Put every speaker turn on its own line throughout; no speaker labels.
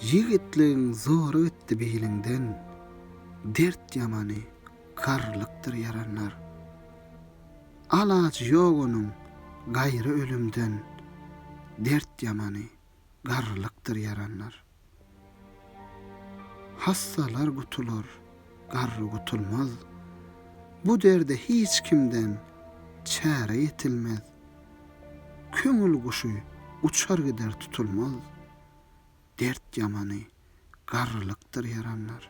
Ýigitligiň zory gitdi biliňden, Dert ýamany, garrylykdyr ýaranlar. Alajy ýok onuň, gaýry ölümden, Dert ýamany, garrylykdyr ýaranlar. Hassalar gutular, garry gutulmaz, Bu derde hiç kimden, çäre ýetilmez. Köňül guşy uçar gider tutulmaz, Dert ýamany garrylykdyr ýaranlar.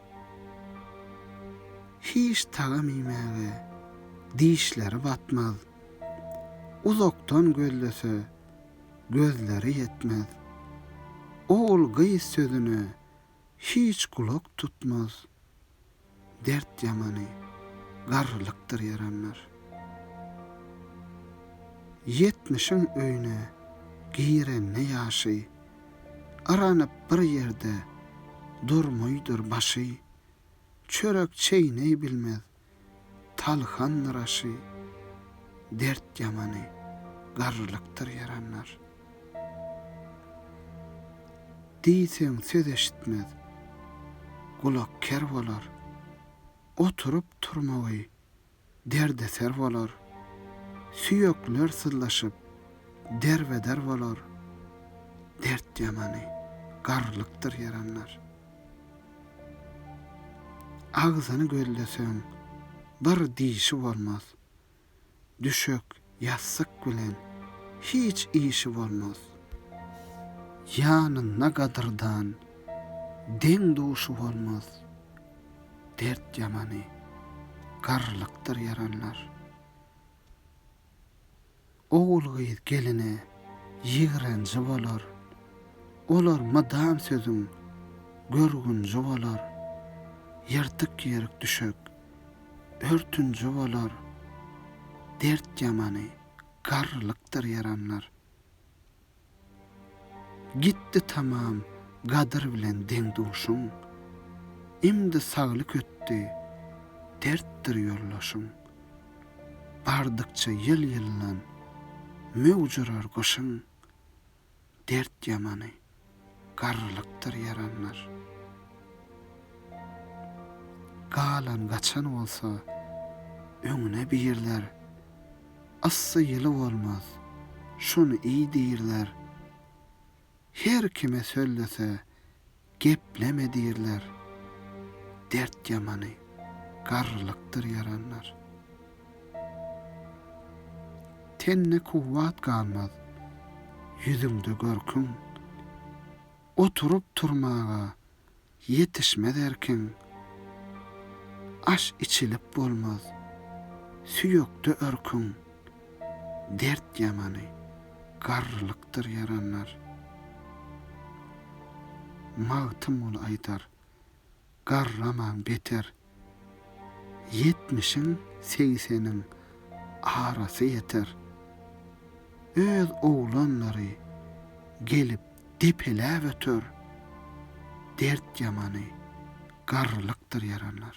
Hiç tagam iýmäge dişleri batmaz, Uzakdan gözlese gözleri ýetmez. Ogul-gyz sözüne hiç gulak tutmaz. Dert ýamany, garrylykdyr ýaranlar. Ýetmişiň öýüne girende ýaşy, Yranyp bir ýerde durmuýdur başy. Çörek çeýneý bilmez, talhandyr aşy. Dert ýamany, garrylykdyr ýaranlar. Diýseň söz eşitmez, gulak ker bolar, Oturyp turmagy derdeser bolar, Süýekler syzlaşyp derbeder bolar, Dert ýamany garrylykdyr ýaranlar. Agzyny gözleseň bir dişi bolmaz, düşek, ýassyk bilen hiç işi bolmaz. Ýanynda gadyrdan, deň-duşy bolmaz. Dert ýamany, garrylykdyr ýaranlar. Ogul-gyz geline ýigrenji bolar. Olar mydam sözüň görgünji bolar. Ýyrtyk-ýerik düşek. Örtünji bolar dert ýamany, garrylykdyr ýaranlar. Gitdi tamam gadyr bilen deň-duşuň, imdi saglyk ötdi, dertdir ýoldaşyň. Bardykça ýyl-ýyldan möwjurar gyşyň, Dert ýamany, garrylykdyr ýaranlar. Galan, gaçan bolsa, öňüne birler. Yssy ýyly bolmaz, şony iý diýrler. Her kime söllese, Gepleme diýirler, dert ýamany, garrylykdyr ýaranlar. Tende kuwwat galmaz, ýüzüňde görküň, oturyp-turmaga ýetişmez erkiň. Aş içilip bolmaz, süýekde örküň. Dert ýamany, garrylykdyr ýaranlar. Magtymguly aýdar, Garramaň beter. Ýetmişiň, segseniň arasy ýeter. Öz oglanlary gelip depeläp öter. Dert ýamany, garrylykdyr ýaranlar.